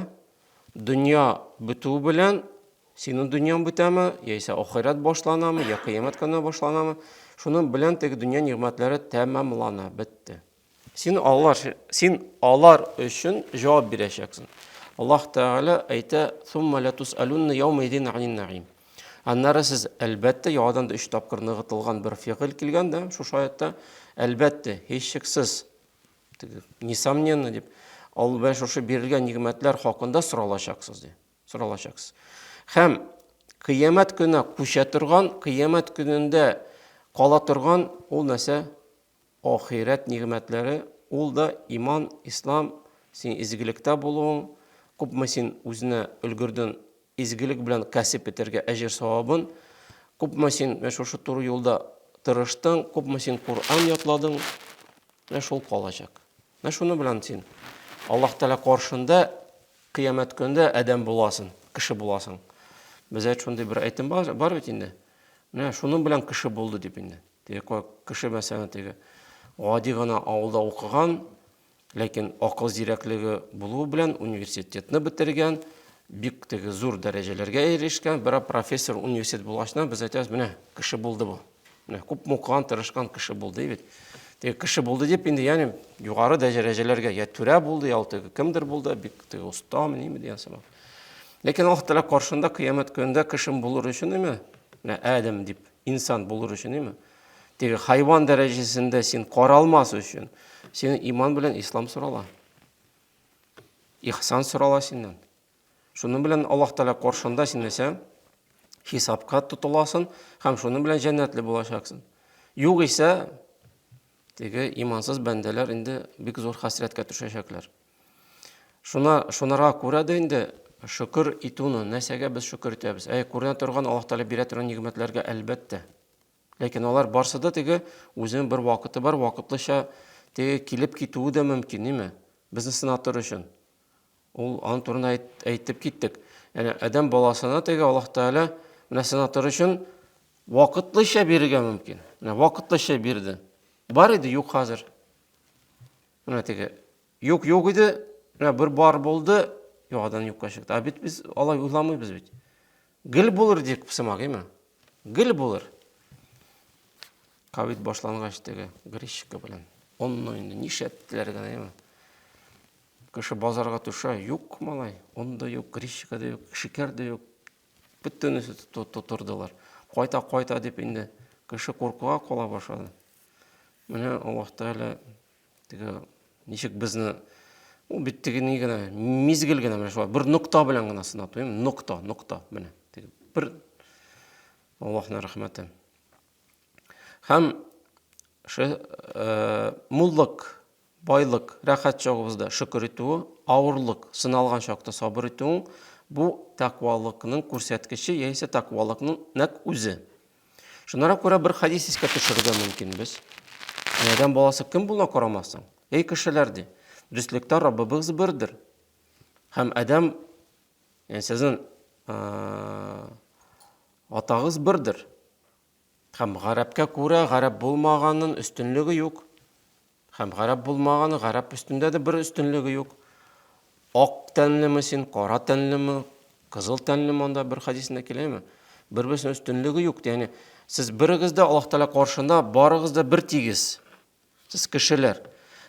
Дөнья бетү белән синең дөньяң бетәме, яисә ахирәт башланамы, я кыямәт көне башланамы, шуның белән теге дөнья нигъмәтләре тәмамлана, бетте. Син алар, син алар өчен җавап бирәчәксең. Аллаһ Тәгалә әйтә: "Сумма ла тусалунна яума идин анин наим". Аннары сез әлбәттә яңадан да өч тапкыр ныгытылган бер фигыль килгән дә шушы аятта. Әлбәттә, һичшиксез Теге, несомненно, дип, ал белән шушы бирелгән нигъмәтләр хакында соралачаксыз, ди. Соралачаксыз. Хәм кыямәт көне күчә торган, кыямәт көнендә кала торган ул нәрсә? Ахирәт нигъмәтләре, ул да иман, ислам, син изгелектә булуың, күпме син үзенә өлгерден Изгелек белән кәсеп итәргә әҗер-савабын, күпме син менә шушы туры юлда тырыштың, күпме син Коръән ятладың, менә шул калачак. Менә шуны белән син Аллаһ Тәгалә каршында кыямәт көндә адәм буласың, кеше буласың. Бездә шундый бер әйтем бар, бар бит инде. Менә шуның белән кеше булды дип инде. Теге кеше мәсәлән теге гади гына авылда укыган, Ләкин акыл зирәклеге булуы белән университетны бетергән, бик теге зур дәрәҗәләргә ирешкән, бер профессор университет булгачна без әйтәбез, менә кеше булды бу. Менә күп мукан, тырышкан кеше булды бит. Теге кеше булды дип инде, ягъни югары дәрәҗәләргә я түрә булды, я теге кемдер булды, бик теге оста, ниме дигән сыман. Ләкин Аллаһ Тәгалә каршында кыямәт көнендә кешем булыр өчен име? Менә Адәм дип инсан булыр өчен име? Теге хайван дәрәҗәсендә син каралмас өчен, синең иман белән ислам сорала. Ихсан сорала синнән. Шуның белән Аллаһ Тәгалә каршында син нәрсә? Хисапка тотыласың һәм шуның белән җәннәтле булачаксың. Югыйсә, теге имансыз бәндәләр инде бик зур хәсрәткә төшәчәкләр. Шуна шунара күрә дә инде шөкер итүне, нәрсәгә без шөкер итәбез? Әй, күренә торган Аллаһ Тәгалә бирә торган нигъмәтләргә әлбәттә. Ләкин алар барсы да теге үзенең бер вакыты бар, вакытлыча теге килеп китүе дә мөмкин, ниме? Безне сынап тору өчен. Ул аны турында әйтеп киттек. Яни адәм баласына теге Аллаһ Тәгалә менә сынап тору өчен вакытлыча бирергә мөмкин. Менә вакытлыча бирде. Бар иде, юк хәзер. Менә теге юк юк иде, менә бер бар булды, юк адан юкка чыкты. Ә бит без алай уйламыйбыз бит. Гел булыр дип сымагыймы? Гел булыр. Ковид башлангач теге гречка белән. Онны инде нишләттеләр генә, әйме? Кеше базарга төшә, юк малай, он да юк, гречка да юк, шикәр дә юк. Бөтенесе тотырдылар. Кайта, кайта дип инде кеше куркуга кала башлады. Менә Аллаһ Тәгалә Теге ничек безне ул бит теге ни генә мизгел генә менә шулай бер нокта белән генә сынату, эм нокта, нокта менә. Теге бер Аллаһның рәхмәте. Һәм ше э, муллык, байлык, рәхәт чагыбызда шөкер итүе, авырлык, сыналган чакта сабыр итүең бу тәкъвалыкның күрсәткече яисә тәкъвалыкның нәк үзе. Шунара күрә бер хадис искә төшерергә мөмкин без. Адәм баласы кем була карамасын? Эй кешеләр ди. Дөслектә Раббыбыз бердер. Һәм Адәм яни сезнең атагыз бердер. Һәм гарәпкә күрә гарәп булмаганның өстенлеге юк. Һәм гарәп булмаган, гарәп өстендә дә бер өстенлеге юк. Ак тәнлеме син, кара тәнлеме, кызыл тәнлеме анда бер хадисендә киләме? Бер-берсенә өстенлеге юк. Ягъни сез берегез дә Аллаһ Тәгалә каршында барыгыз да бер тигез. Сез кешеләр.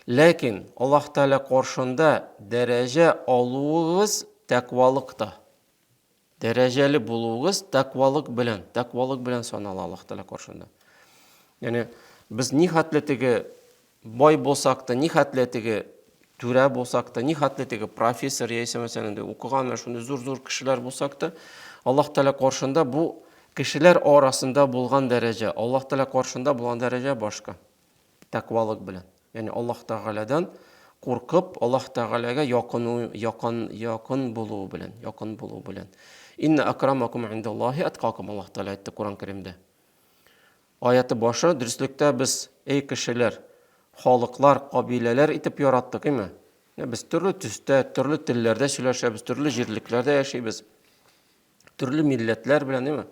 Ләкин Аллаһ Тәгалә каршында дәрәҗә алуыгыз тәкъвалыкта. Дәрәҗәле булуыгыз тәкъвалык белән, тәкъвалык белән санала Аллаһ Тәгалә каршында. Ягъни без ни хәтле теге бай булсак та, ни хәтле теге түрә булсак та, ни хәтле теге профессор яисә мәсәлән инде укыган менә шундый зур-зур кешеләр булсак та, Аллаһ Тәгалә каршында бу кешеләр арасында булган дәрәҗә, Аллаһ Тәгалә каршында булган дәрәҗә башка. Тәкъвалык белән, ягъни Аллаһ Тәгаләдән куркып, Аллаһ Тәгаләгә якыну, якын, якын булу белән, якын булу белән. Инна акрамакум индаллаһи аткакум, Аллаһ Тәгалә әйтте Коръән Кәримдә. Аяты башы, дөреслектә без, эй кешеләр, халыклар, кабиләләр итеп яраттык, име? Без төрле төстә, төрле телләрдә сөйләшәбез, төрле җирлекләрдә яшибез. Төрле милләтләр белән, әйме?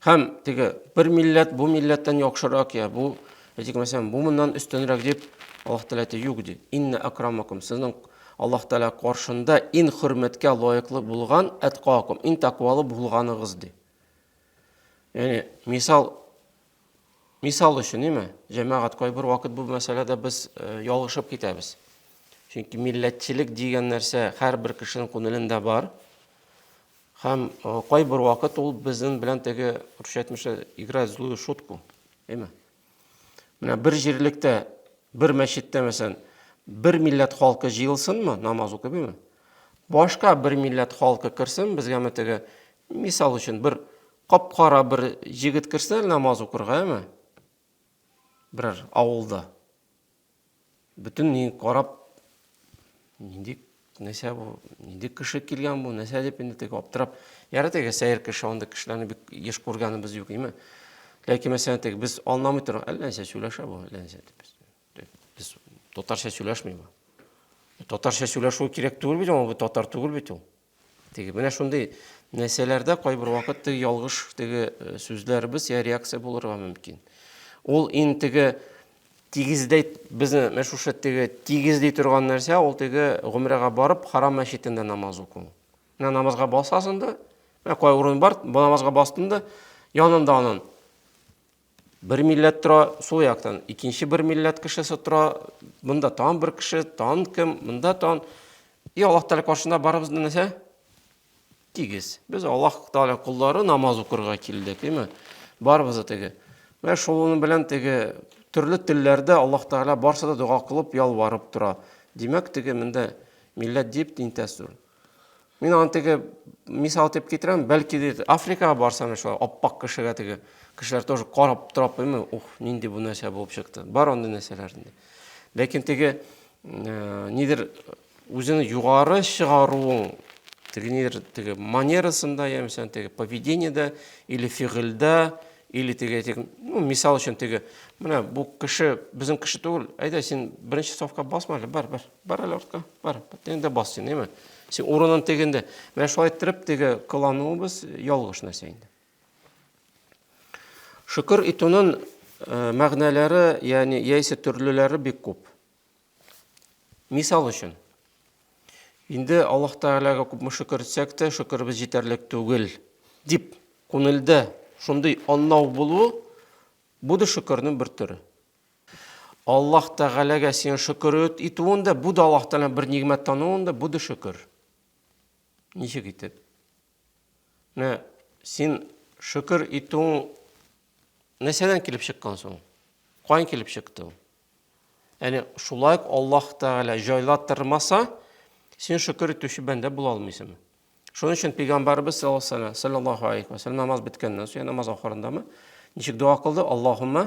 Һәм теге бер милләт бу милләттән яхшырак я бу, әйтик, мәсәлән, бу моннан өстенрәк дип Аллаһ Тәгалә әйтә, юк ди. Инна акрамакум, сезнең Аллаһ Тәгалә каршында иң хөрмәткә лаеклы булган атқакум, иң тәкъвалы булганыгыз ди. Яни, мисал Мисал өчен, ниме? Җәмәгать кайбер вакыт бу мәсьәләдә без э, ялгышып китәбез. Чөнки милләтчелек дигән нәрсә һәрбер кешенең күңелендә бар. Һәм э, кайбер вакыт ул безнең белән теге русча әйтмешә играть злую шутку. Әйме? Менә бер җирлектә, бер мәчеттә мәсәлән, бер милләт халкы җыелсынмы, намаз укыймы? Башка бер милләт халкы керсен, безгәме теге мисал өчен бер Кап-кара бер җегет керсә намаз укырга, әме? Берәр авылда. Бүтін нең карап, нинди нәрсә бу, нинди кеше килгән бу, нәрсә дип инде теге аптырап. Яры теге сәер кеше, анда кешеләрне бик еш күргәнебез юк, әме? Ләкин мәсәлән, теге без аңламый торган, әллә нәрсә сөйләшә бу, әллә нәрсә дип без. Без татарча сөйләшмибез. Татарча сөйләшү кирәк түгел бит, бу татар түгел бит ул. Теге менә шундый нәрсәләрдә кайбер вакыт теге ялгыш теге э, сүзләребез я реакция булырга мөмкин. Ул ин теге тигездәй безне менә шушы теге тигезли торган нәрсә ул теге гомрәгә барып харам мәчетендә намаз уку. Менә намазга басасың да, менә кай урын бар, бу намазга бастың да, янында анын Бер милләт тора, сул яктан икенче бер милләт кешесе тора, монда тагын бер кеше, тагын кем, монда тагын. И Аллаһ Тәгалә каршында барыбыз да нәрсә? Тигез. Без Аллаһ Тәгалә куллары намаз укырга килдек, әйме? Барыбыз да теге. Менә шуның белән теге төрле телләрдә Аллаһ Тәгалә барса да дога кылып, ялварып тора. Димәк, теге монда милләт дип тинтәс түгел. Мин аны теге мисал итеп китерәм, бәлки ди Африкага барсам шулай аппак кешегә теге кешеләр тоже карап торап белми, ух, нинди бу нәрсә булып чыкты. Бар андый нәрсәләр инде. Ләкин теге э, нидер үзеңне югары чыгаруың теге нидер теге манерасында яисә теге поведениедә или фигыльдә или теге теге ну мисал өчен теге менә бу кеше безнең кеше түгел әйдә син беренче сафка басма әле бар бар Бар әле артка, бар. Тегендә бас син, әйме? Син урынын тегендә. Менә шулай иттереп теге кылануыбыз ялгыш нәрсә инде. Шөкер итүнең э, мәгънәләре, ягъни яисә төрлеләре бик күп. Мисал өчен, инде Аллаһ Тәгаләгә күпме шөкер итсәк тә, шөкеребез җитәрлек түгел дип күңелдә шундый аннау булу, бу да шөкернең бер төре. Аллаһ Тәгаләгә син шөкер итүен дә, бу да Аллаһ Тәгаләне бер нигъмәт тануын да, бу да шөкер. Ничек итеп? Менә син шөкер итүең нәрсәдән килеп чыккан соң? Каян килеп чыкты ул? Яни шулай ук Аллаһ Тәгалә җайлатырмаса, син шөкер итүче бәндә була алмыйсыңмы? Шуның өчен пәйгамбәрбез саллаллаһу алейхи ва саллям намаз беткәннән соң, намаз ахырындамы, ничек дога кылды? Аллаһумма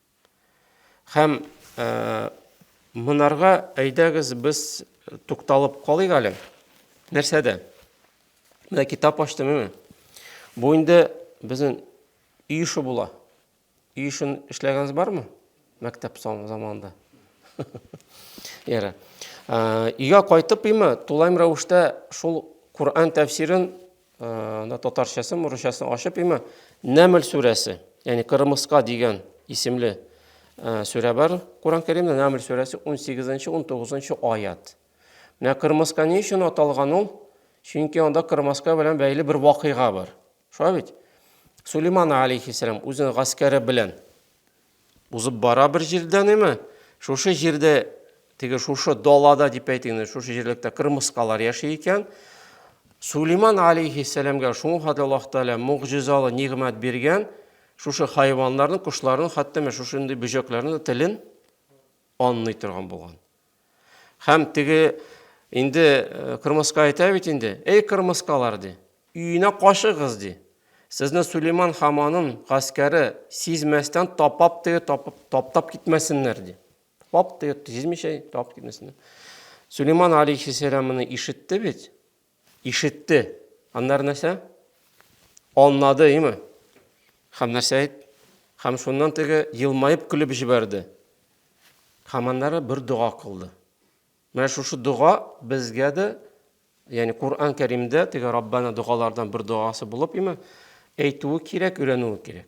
Һәм монарга әйдәгез без тукталып калыйк әле. Нәрсәдә? Менә китап ачтым мени. Бу инде безнең үй эше була. Үй эшен эшләгәнегез бармы? Мәктәп заманында. Яра. Өйгә кайтып имә, тулайм рәвештә шул Коръән тәфсирен Анда татарчасы, мурычасы ачып има. Нәмл сүрәсе, ягъни Кырмыска дигән исемле сүрә бар. Куран Кәримдә Нәмл сүрәсе 18-нче, 19-нчы аят. Менә Кырмыска ни өчен аталган ул? Чөнки анда Кырмыска белән бәйле бер вакыйга бар. Шулай бит? Сулейман алейхиссалам үзенең гаскәре белән Узып бара бер җирдән име, шушы җирдә, теге шушы далада дип әйтик, шушы җирлектә кырмыскалар яши икән. Сулейман алейхиссәламгә шуңа хәтле Аллаһ Тәгалә мугъҗизалы нигъмәт биргән, шушы хайваннарның, кошларның, хәтта менә шушындый бөҗәкләрнең телен анлый торган булган. Һәм теге инде э, кырмыска әйтә бит инде, эй кырмыскалар ди, өенә качыгыз ди. Сезне Сулейман хаманын гаскәре сизмәстән тапап теге тапап таптап китмәсеннәр ди. Тапап теге сизмичә тапап китмәсеннәр. Сулейман алейхиссәламны ишетте бит. Ишетте. Аннары нәрсә? Анлады, име? Хәм нәрсә әйт? Хәм шуннан теге елмаеп көлеп җибәрде. Хәм аннары бер дога кылды. Менә шушы дога безгә дә, ягъни Коръән Кәримдә теге Раббана догалардан бер догасы булып име, әйтүе кирәк, өйрәнүе кирәк.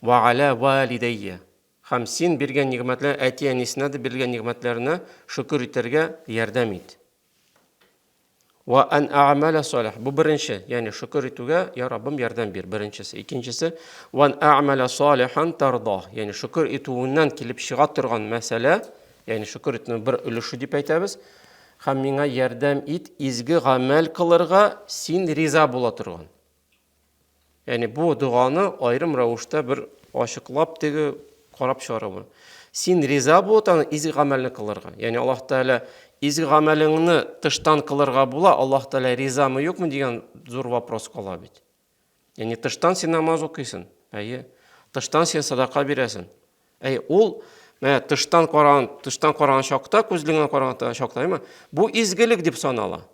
Вә галә вәлидәйе. Һәм син биргән нигъмәтләр әти-әнисенә дә бирелгән нигъмәтләренә шөкер итәргә ярдәм ит. Вә ан а'мәлә салих. Бу беренче, ягъни шөкер итүгә, я Раббым, ярдәм бир, беренчесе. Икенчесе, вә ан а'мәлә салихан тарда. Ягъни шөкер итүеннән килеп чыга торган мәсьәлә, ягъни шөкер итүнең бер өлеше дип әйтәбез. Һәм миңа ярдәм ит изге гамәл кылырга, син риза була торган. Яни бу доганы айрым рәвештә бер ачыклап теге карап чыгарабыз. Син риза булып аны изге гамәлне кылырга. Яни Аллаһ Тәгалә изге гамәлеңне тыштан кылырга була, Аллаһ Тәгалә ризамы юкмы дигән зур вопрос кала бит. Яни тыштан син намаз укыйсың. Әйе. Тыштан син садака бирәсең. Әй ул менә тыштан караган, тыштан караган чакта, күзлегенә караган чакта, әйме? Бу изгелек дип санала.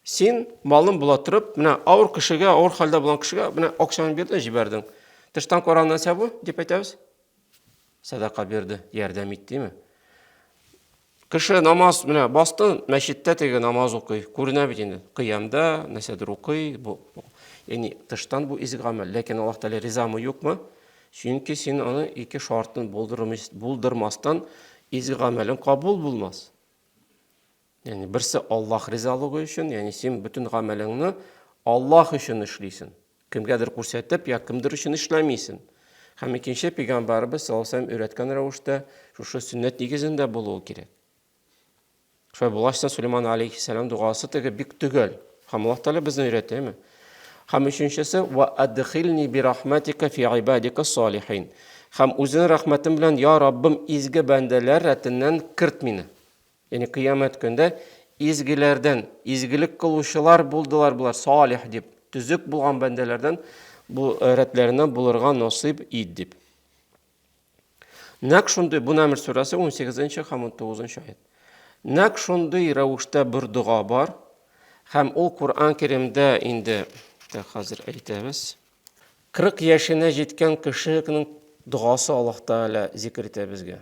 Син малым була торып, менә авыр кешегә, авыр хәлдә булган кешегә менә акчаны бирдең, җибәрдең. Тыштан караган нәрсә бу дип әйтәбез. Садака бирде, ярдәм иттеме? Кеше намаз менә басты, мәчеттә теге намаз укый, күренә бит инде. Кыямда нәрсәдер укый, бу ягъни тыштан бу изге гамәл, ләкин Аллаһ Тәгалә ризамы юкмы? Чөнки син аны ике шартын булдырмастан изге гамәлең кабул булмас. Яни берсе Аллаһ ризалыгы өчен, яни син бөтен гамәлеңне Аллаһ өчен эшлисен. Кемгәдер күрсәтеп, я кемдер өчен эшләмисен. Һәм икенче пәйгамбәрбез саллаллаһу алейһи өйрәткән рәвештә шушы сөннәт нигезендә булуы кирәк. Шулай булгач, Сулейман алейхиссалам дугасы теге бик төгәл. Һәм Аллаһ Тәгалә безне өйрәтәме? Һәм өченчесе ва адхилни би рахматика фи ибадика салихин. Һәм үзен рәхмәтем белән, я Раббым, изге бәндәләр рәтеннән керт мине. Яни кыямәт көндә изгеләрдән, изгелек кылучылар булдылар болар, салих дип, төзек булган бәндәләрдән бу рәтләреннән булырга насыйп ит дип. Нәк шундый, бу Намл сүрәсе 18-нче һәм 19-нчы аят. Нәк шундый рәвештә бер дога бар, һәм ул Кур'ан Кәримдә инде хәзер әйтәбез. 40 яшенә җиткән кешенең догасы Аллаһ Тәгалә зикер итә безгә.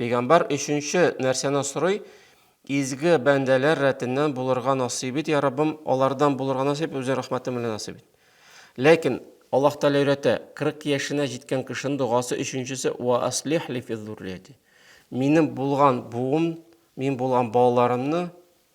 Пәйгамбәр өченче нәрсәне сорый, Изге бәндәләр рәтеннән булырга насыйп ит, я Раббым, алардан булырга насыйп, үзе рәхмәтең белән насыйп ит. Ләкин Аллаһ Тәгалә өйрәтә, 40 яшенә җиткән кешенең догасы өченчесе ва аслих ли фи зуррияти. Минем булган буым, мин булган балаларымны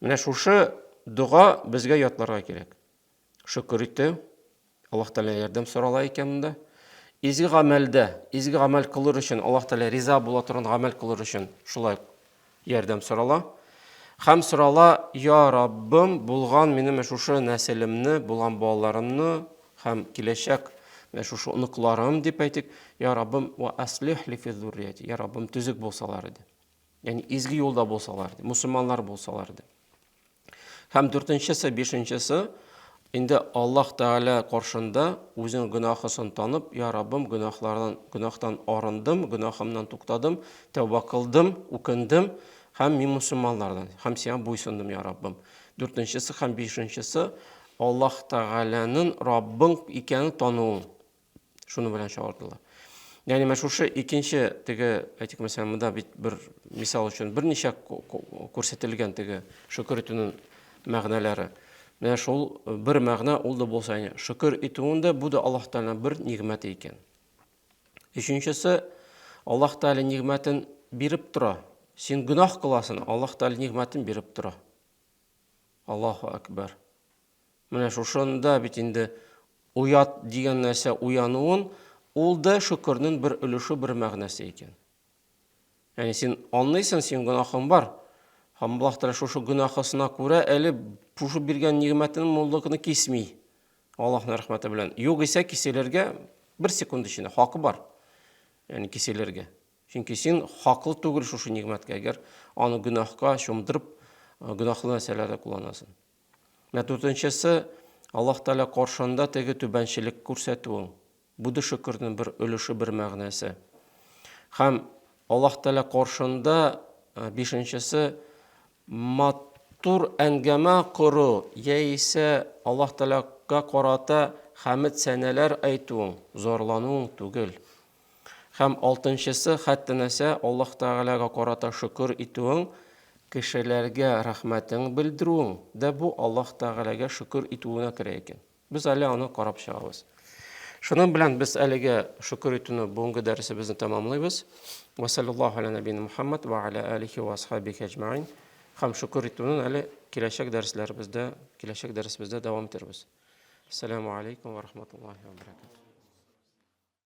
Менә шушы дога безгә ятларга кирәк. Шөкер итү, Аллаһ Тәгалә ярдәм сорала икән монда. Изге гамәлдә, изге гамәл кылыр өчен, Аллаһ Тәгалә риза була торган гамәл кылыр өчен шулай ярдәм сорала. Хәм сорала, я Раббым, булган минем шушы нәселемне, булган балаларымны һәм киләчәк менә шушы оныкларым дип әйтик, я Раббым, ва аслих ли фи зуррияти. Я Раббым, төзек булсалар иде. Яни изге юлда булсалар, мусульманнар булсалар ди. Һәм дүртенчесе, бишенчесе инде Аллаһ Тәгалә каршында үзен гөнаһысын танып, я Раббым, гөнаһлардан, гөнаһтан арындым, гөнаһымнан туктадым, тәүба кылдым, үкендем һәм мин мусульманнардан, һәм сиңа буйсындым, я Раббым. Дүртенчесе һәм бишенчесе Аллаһ Тәгаләнең Раббың икәнен тануың. Шуны белән чагылдылар. Яни менә шушы икенче теге, әйтик, мәсәлән, монда бит бер мисал өчен берничә күрсәтелгән теге шөкер итүнең мәгънәләре. Менә шул бер мәгънә ул да булса, яни шөкер итүең дә бу да Аллаһ Тәгаләнең бер нигъмәте икән. Өченчесе Аллаһ Тәгалә нигъмәтен биреп тора. Син гөнаһ кыласың, Аллаһ Тәгалә нигъмәтен биреп тора. Аллаһу акбар. Менә шушында бит инде оят дигән нәрсә уянуын, ул да шөкернен бер өлеше, бер мәгънәсе икән. Яни син анлыйсын, син гөнаһың бар. Һәм Аллаһ Тәгалә шушы гөнаһысына күрә әле шушы биргән нигъмәтен муллыкны кисми. Аллаһның рәхмәте белән. Юк исә киселергә бер секунд эчендә хакы бар. Яни киселергә. Чөнки син хаклы түгел шушы нигъмәткә, әгәр аны гөнаһка чумдырып, гөнаһлы нәрсәләрдә кулланасың. Менә дүртенчесе, Аллаһ Тәгалә каршында теге түбәнчелек күрсәтүең. Бу да шөкернең бер өлеше, бер мәгънәсе. Һәм Аллаһ Тәгалә каршында бишенчесе мат матур әңгәмә кору яисә Аллаһ Тәгаләгә карата хәмид сәнәләр әйтүең, зарлануың түгел. Һәм алтынчысы, хәтта-нәрсә Аллаһ Тәгаләгә карата шөкер итүең, кешеләргә рәхмәтең белдерүең дә бу Аллаһ Тәгаләгә шөкер итүенә керә икән. Без әле аны карап чыгабыз. Шуның белән без әлегә шөкер итүне бүгенге дәресебезне тәмамлыйбыз. Ва саллаллаһу аля нәбина Мухаммад ва аля алихи ва асхабихи аҗмаин. Һәм шөкер итүне әле киләчәк дәресләребездә, киләчәк дәресебездә дәвам итәрбез. Ассаламу алейкум ва рахматуллахи ва баракатуһ.